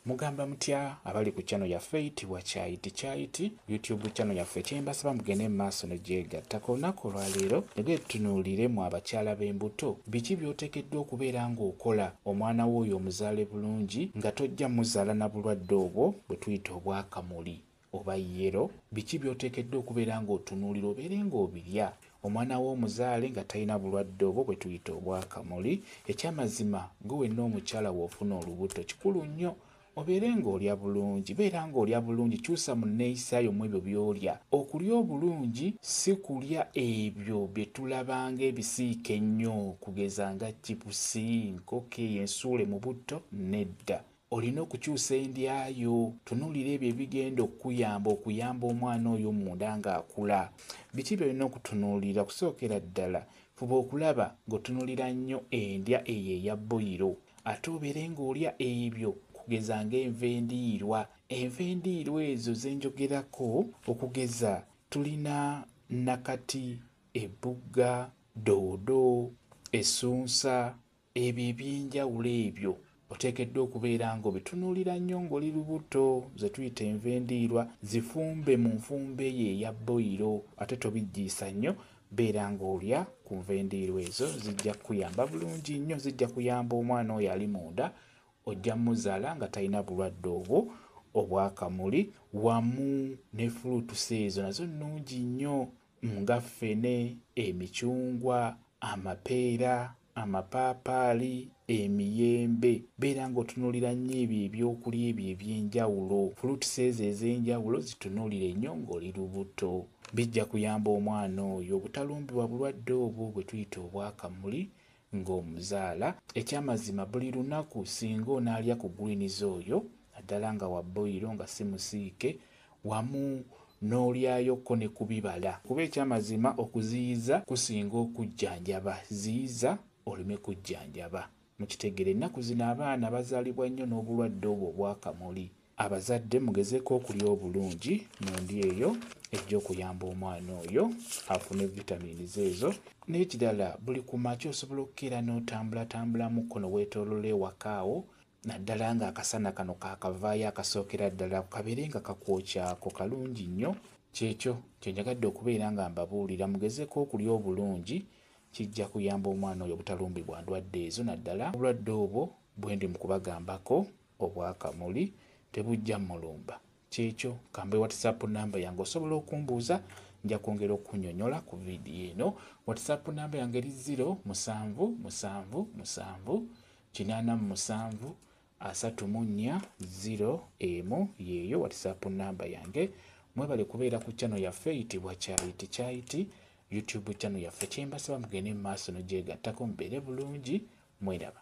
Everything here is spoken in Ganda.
Mugamba mutya abali ku channel yaffe eyitibwa Kyayiti Kyayiti YouTube channel yaffe kyembasaba mugende mu maaso ne gyegatta ku lunaku olwaleero nagee tutunuulire mu abakyala b'embuto biki by'oteekeddwa okubeera ng'okola omwana wo oyo omuzaale bulungi nga tojja muzaala na bulwadde obwo bwe tuyita obwakamuli. oba yellow, biki by'oteekedde okubeera ng'otunuulira obeere ng'obirya, omwana wo omuzaale nga talina bulwadde obwo bwe tuyita obw'akamuli, eky'amazima gwe wenna omukyala w'ofuna olubuto kikulu nnyo obeere ng'olya bulungi, beera ng'olya bulungi, kyusa mu nneeyisa yo mw'ebyo by'olya, okulya obulungi si kulya ebyo bye tulaba ng'ebisiike ennyo okugeza nga chipusi, nkoko eyo ensuule mu butto, nedda. Olina okukyusa endya yo. Tunuulira ebyo ebigenda okukuyamba okuyamba omwana oyo munda ng'akula. Biki by'olina okutunuulira? Okusookera ddala, fuba okulaba ng'otunuulira nnyo endya eyo eya bboyiro ate obeere ng'olya ebyo okugeza ng'enva endiirwa. Enva endiirwa ezo ze njogerako okugeza tulina nnakati, ebbugga, doodo, essunsa, Ebyo eby'enjawulo ebyo oteekeddwa okubeera ng'obitunuulira nnyo ng'oli lubuto, ze tuyita enva endiirwa, zifumbe mu nfumba eyo eya bboyiro ate tobiggiisa nnyo, beera ng'olya ku nva endiirwa ezo zijja kukuyamba bulungi nnyo, zijja kuyamba omwana oyo ali munda, ojja muzaala nga talina bulwadde obwo obw'akamuli wamu ne fuluutusi ezo nazo nnungi nnyo. nga ffene, emicungwa, amapeera, amapaapaali, emiyembe, beera ng'otunuulira nnyo ebyo ebyokulya ebyo eby'enjawulo, fruits ezo ez'enjawulo zitunuulire nnyo ng'oli lubuto. Bijja kuyamba omwana oyo obutalumbibwa bulwadde obwo bwe tuyita obwa kamuli nga omuzaala ekyamazima buli lunaku singa onaalya ku greens oyo naddala nga wa boyiro nga si musiike wamu n'olyayo ko ne kubibala kuba ekyamazima okuziyiza kusinga okujjanjaba ziyiza oleme kujjanjaba mukitegera ennaku zino abaana bazaalibwa nnyo n'obulwadde obwo obwakamuli Abazadde mugezeko okulya obulungi mu ndya eyo ejja okuyamba omwana oyo afune vitamins ezo nekirala buli kumakya osobola okukeera notambulatambulamuko newetolola ewaka awo naddala nga akasana kano kakavaayo akasookera ddala kabeere nga kakwokyako kalungi nnyo kyekyo kyenjagadde okubeera nga mbabuulira mugezeko okulya obulungi kijja kuyamba omwana oyo obutalumbibwa ndwadde ezo naddala obulwadde obwo bwendi mukubagambako. Obwa kamuli tebujja mulumba. Kyekyo, kambe whatsapp number yange osobola okumbuuza nja kwongera okukunyonyola ku video eno. Whatsapp number yange eri 0 musanvu musanvu musanvu kinaana mu musanvu asatu mu nnya 0 emu yeeyo whatsapp number yange. Mwebale kubeera ku channel yaffe eyitibwa Kyayiti Kyayiti YouTube channel yaffe. Kyembasaba mugende mu maaso nogyegattako mubeere bulungi mweraba.